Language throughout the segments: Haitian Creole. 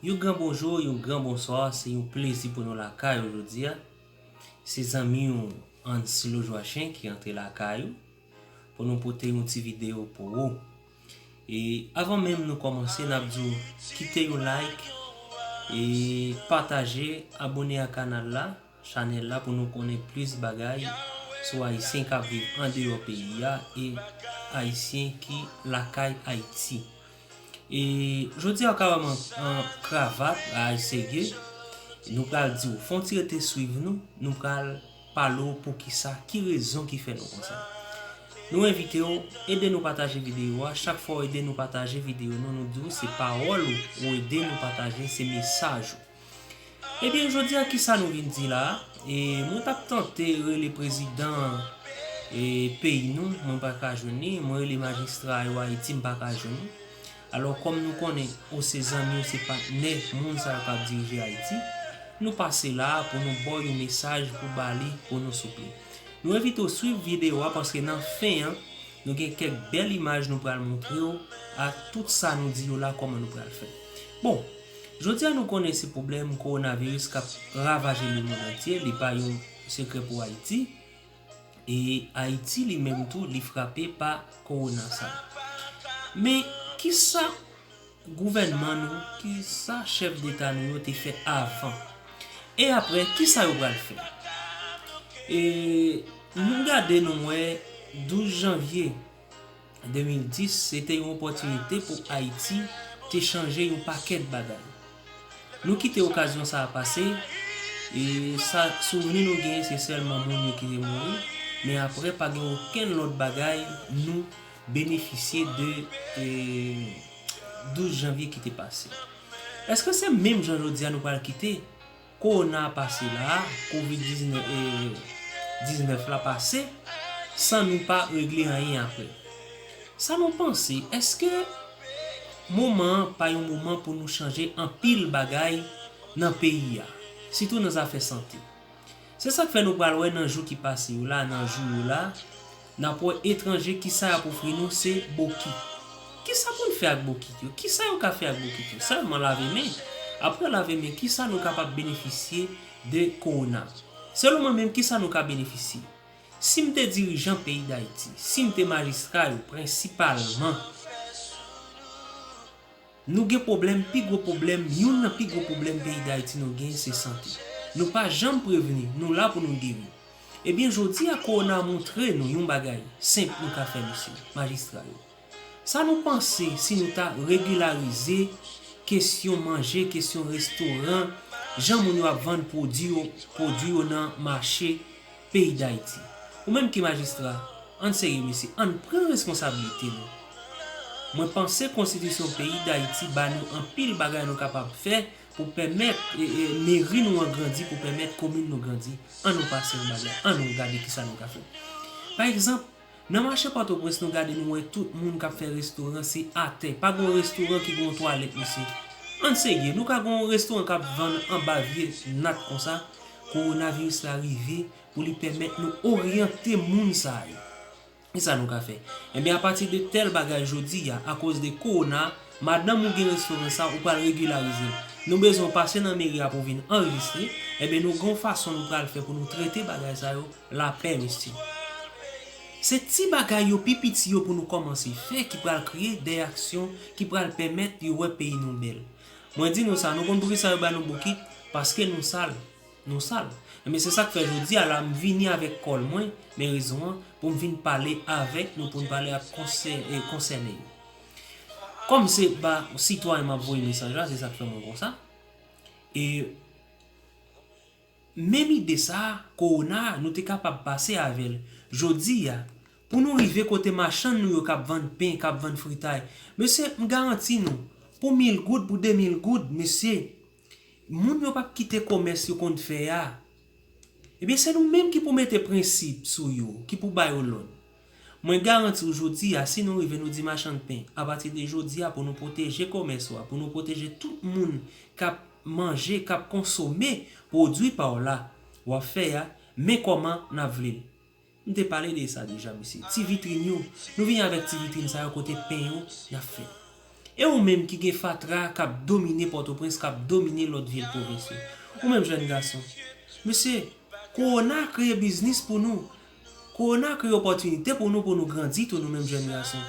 Yon gran bonjou, yon gran bonswa, se yon plezi pou nou lakay ou jodi a. Se zanmi ou Anslo Joachim ki antre lakay ou pou nou pote yon ti video pou ou. E avan menm nou kòmanse nap di w kite yon like e pataje abone a kanal la chanèl la pou nou konnen plis bagay sou ayisyen kap viv andeyò peyi a e ayisyen ki lakay ayiti e jodi a kara man an kravat a ayisege nou pral di w fon ti rete swiv nou nou pral Pale w poukisa, ki rezon ki fè nou konsa. Nou envite w, ede nou pataje videyo a, chak fwa w ede nou pataje videyo nou, nou di w se pawòl ou, ou ede nou pataje, se mesaj ou. Ebyen jodi a kisa nou vin di la a, e mwen t ap tante rele prezidan e peyi nou, mwen pa ka jwenn li, mwen rele majistra yo Ayiti m pa ka jwenn li. Alò kòm nou konnen ou se zanmi ou se patnè moun sa yo kap dirije Ayiti, nou pase la a pou nou ba w yon mesaj pou ba li pou nou souple. Nou envite w swiv videyo a paske nan fen an nou gen kèk bèl imaj nou pral montre w ak tout sa nou di yo la kòman nou pral fè. Bon, jodi a nou konnen se pwoblèm kowonaviris kap ravaje lemond antye li pa yon sekrè pou Ayiti, E Ayiti li menm tou li frape pa kowona sa. Men kisa gouvènman nou, kisa chèf deta nou yo te fè avan? E aprè kisa yo pral fè? E nou gade nou wè 12 janvye. 2010 se te yon opòtinite pou Ayiti te chanje yon pakèt bagay. Nou kite okazyon sa a pase, e sa souvni nou genyen se sèlman moun yo ki te mouri, men aprè pa gen okenn lòt bagay nou benefisye de 12 janvye ki te pase. Èske se menm jan jodi a nou pral kite? Kowona a pase la a, Covid 19 la pase san nou pa regle anyen aprè. Sa nou panse, èske moman an pa yon moman pou nou chanje anpil bagay nan peyi a, sitou nan zafè sante? Se sa k fè nou pral wè nan jou ki pase yo la, nan jou yo la, Nan po etranje ki sa y ap ofri nou se bokit. Ki sa pou n fè ak bokit yo? Ki sa yo ka fè ak bokit yo? Sèlman lave men. Apre lave men, ki sa nou kapab benefisye de kowona? Selon mwen menm, ki sa nou ka benefisye? Si m te dirijan peyi Dayiti, si m te majistra yo, prensipalman, Nou gen pwoblèm, pi gwo pwoblèm, youn nan pi gwo pwoblèm peyi Dayiti nou gen se sante. Nou pa janm prevni, nou la pou nou geri. Ebyen jodi a kowona moutre nou yon bagay senp nou ka fè mesye Majistra yo. Sa nou panse si nou ta regilarize kesyon manje, kesyon restoran, jan moun yo ap vann pwodi yo, pwodi yo nan mache Peyi Dayiti. Ou menm ki majistra, ann serye mesye, ann pran responsablite nou. Mwen panse konstitisyon peyi Dayiti ba nou anpil bagay nou kapab fè pou pèmèt meri nou an grandi, pou pèmèt komin nou grandi. Annou pase yon bagay, annou gade kisa nou ka fè. Pa egzanp. Nan mache pòtoprens nou gade nou wè tout moun kap fè restoran se atè pa gon restoran ki gon twalèt mesye ann serye nou ka gon restoran kap vann anba vye nat konsa kowonaviris la rive pou li pèmèt nou oryante moun sa yo kisa nou ka fè enben apati de tèl bagay jodi a akoz de kowona madanm ou gen restoran sa ou pral regilarizel nou bezwen w pase nan meri a pou w vin anrejistre enben nou gon fason nou pral fè pou nou trete bagay sa yo Lapè mesye. Se ti bagay yo pi piti yo pou nou kòmanse fè ki pral kreye dè aksyon ki pral pèmèt yo wè peyi nou bèl. Mwen di nou sa, nou konn poukisa yo ba nou bokit? Paske nou sal. Nou sal. Enben se sak fè jodi a la m vini avèk kòl mwen, men rezon an, pou m vin pale avèk nou pou n pale ak konsè e konsène yo. Kòm se ba sitwayen m ap voye mesaj la, se sak fè mwen konsa. E. Menm ide sa, kowona, nou te kapab pase avè l. Jodi a, pou nou rive kote machann nou yo k ap vann pen, k ap vann fritay, mesye, m garanti nou, pou mil goud, pou de mil goud, mesye, moun yo p ap kite komès yo konn fè a. Ebyen, se nou menm ki pou mete prensip sou yo, ki pou ba yo lòd. Mwen garanti w jodi a si nou rive nou di machann pen a pati de jodi a pou nou pwoteje komès ou a pou nou pwoteje tout moun k ap manje k ap konsome pwodui pa w la w ap fè a men kòman n ap vle l m te pale de sa deja mesye ti vitrin yo nou vini avèk ti vitrin sa yo kote pen yo y ap fèt e ou menm ki gen fatra k ap domine pòtoprens k ap domine lòt vil pwovens yo ou menm jèn gason mesye kowona kreye biznis pou nou Kowona kreye opòtinite pou nou pou nou grandi tou nou menm jèn gason.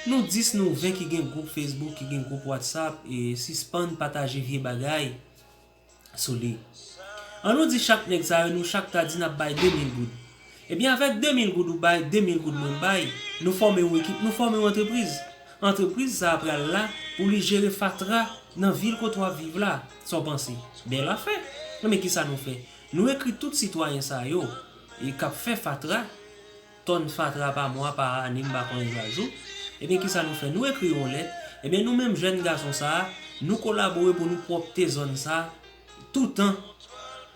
Nou 10 nou 20 ki gen gwoup Facebook, ki gen gwoup WhatsApp, sispann pataje vye bagay sou li. An nou di chak nèg sa yo nou chak ta di nap bay 2000 goud. Ebyen avèk 2000 goud ou bay, 2000 goud mwen bay, nou fòme yon ekip, nou fòme yon antrepriz. Antrepriz sa a pral la pou li jere fatra nan vil kote wap viv la. Sa w panse? Bèl afè! Ebyen kisa nou fè? Nou ekri tout sitwayen sa yo, E kap fè fatra, tòn fatra pa mwa, pa ane m pa konnen sa jou, ebyen kisa nou fè nou ekri yon lèt, ebyen nou menm jèn gason sa a nou kolabore pou nou pwòpte zòn sa a toutan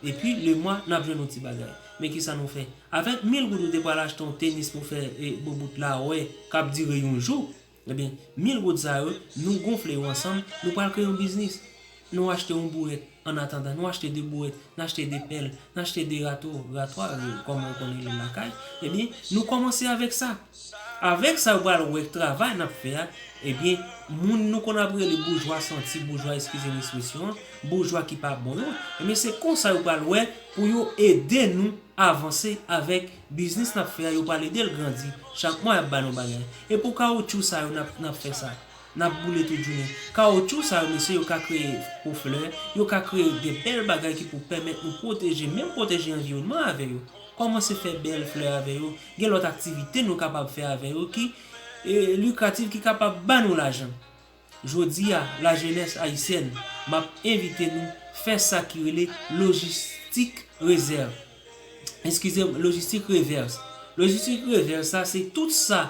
epi le mwa nap jwenn yon ti bagay men kisa nou fè avèk mil goud ou te pral achte yon tenis pou fè boubout la wè kap dire yon jou. Ebyen, mil goud sa yo, nou gonfle yo ansanm, nou pral kreye yon biznis. Nou achte yon bourèt, an atandan, nou achte 2 bourèt, n achte 2 pèl, n achte 2 rato, ratwa, kòman ou konn rele l lakay, ebyen, nou kòmanse avèk sa. Avèk sa, yo pral wè travay n ap fè a, ebyen, moun nou konn ap rele boujwa santi, boujwa eskize m espresyon an, boujwa ki pa bon yo, ebyen, se konsa yo pral wè pou yo ede nou avanse avèk. Biznis nap fè a yo pral edel grandi chak mwa yap ba nou bagay e pou kawoutchou sa yo nap nap fè sa nap boule tout jounen kawoutchou sa yo mesye yo ka kreye po flè yo ka kreye de bèl bagay ki pou pèmèt nou pwoteje menm pwoteje anviwònman avè yo kòmanse fè bèl flè avè yo gen lòt aktivite nou kapab fè avè yo ki likrativ ki kapab ba nou lajan Jodi a la jenès ayisyèn map envite nou fè sa ki rele lojistik rezèv eskize m lojistik revèz lojistik revèz sa se tout sa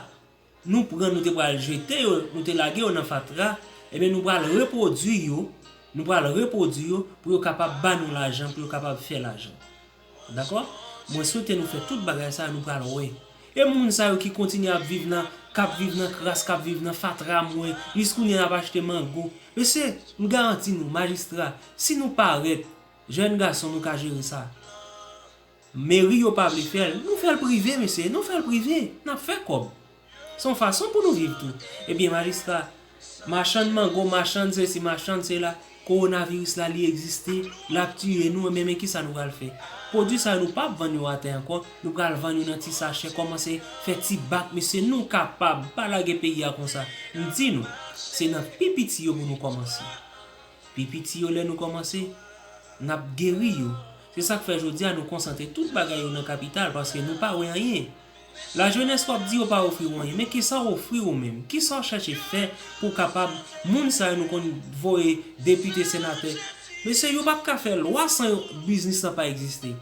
nou pran nou te pral jete yo nou te lage yo nan fatra ebyen nou pral repwodui yo nou pral repwodui yo pou yo kapab ba nou lajan pou yo kapab fè lajan. Dakò? Mwen swete nou fè tout bagay sa yo nou pral wè. E moun sa yo ki kontinye ap viv nan, kap viv nan kras, kap viv nan fatra mwen, jis kounye a nap achte mango. Mesye, m garanti nou, majistra, si nou parèt, jèn gason nou ka jere sa. Meri yo pa vle fè l, nou fè l prive mesye, nou fè l prive, nap fè kòb. Se yon fason pou nou viv tou. Ebyen majistra, machann mango, machann sesi, machann sela, kowonaviris la li egziste, l ap tiye nou ebyen men kisa nou pral fè? Pwodui sa yo nou p ap vann yo atè ankò, nou pral vann yo nan ti sachè, kòmanse fè ti bak mesye nou kapab, pa lage peyi a konsa. M di nou, se nan pi piti yo pou nou kòmanse. Pi piti yo lè nou kòmanse, n ap geri yo. Se sa k fè jodi a nou konsantre tout bagay yo nan kapital paske nou pa wè anyen. La jeunesse wap di yo pa ofri w anyen men kisa w ofri ou menm? Kisa w chache fè pou w kapab moun sa yo nou konn voye depite senatè mesye yo pap ka fè lwa san yo biznis lan pa egziste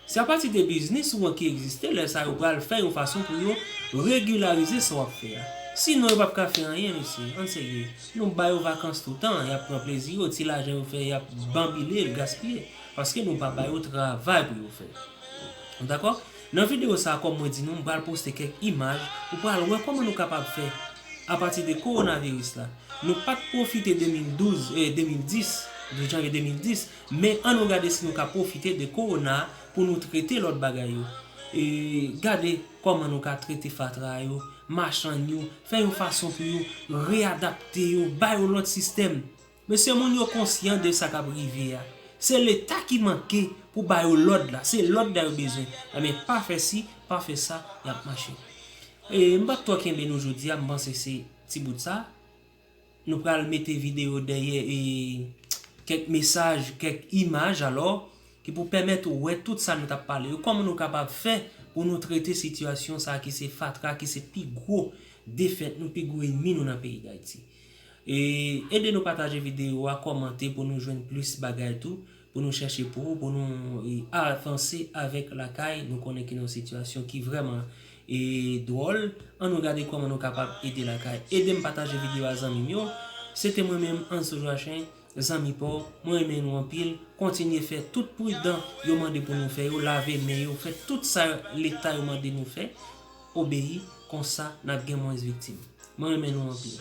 se apati de biznis ou an ki egziste lè sa yo pral fè yon fason pou yo regilarize sa wap fè a si non yo pap ka fè anyen mesye ann serye nou ba yo vakans toutan yap pran plezi yo ti lajan yo fè yap banbile l gaspiye paske nou pa ba yo travay pou yo fè nou dakò? Nan video sa kòm mwen di nou m pral poste kèk imaj ou pral wè kòman nou kapab fè a pati de kowonaviris la nou pat pwofite 2012 eh 2010 12 janvye 2010 men an nou gade si nou ka pwofite de kowona pou nou trete lòt bagay yo eh gade kòman nou ka trete fatra yo machann yo fè yon fason pou yo reyadapte yo ba yo lòt sistèm. Mesye moun yo konsyan de sa kap rive a se leta ki manke pou ba yo lòd la se lòd la yo bezwen ebyen pa fè si pa fè sa yap mache ee m pap twò kenbe nou jodi a m panse se ti bout sa nou pral mete video dèyè ee kèk mesaj kèk imaj alò ki pou pèmèt ou wè tout sa nou tap pale yo kòman nou kapab fè pou nou trete sitiyasyon sa ki se fatra ki se pi gwo defèt nou pi gwo enmi nou nan peyi dayiti. Ede nou pataje video a kòmante pou nou jwenn plis bagay tou pou nou chèche pou ou pou nou avanse avèk lakay nou konnen ki nan yon sitiyasyon ki vrèman dwòl an nou gade kòman nou kapab ede lakay edem pataje video a zanmim yo se te mwen menm Ansou Joachim. Zanmi paw, mwen renmen nou anpil, kontinye fè tout pridan yo mande pou nou fè yo, lave men yo, fè tout sa leta yo mande nou fè, obeyi, konsa nap gen mwens viktim. Mwen renmen nou anpil.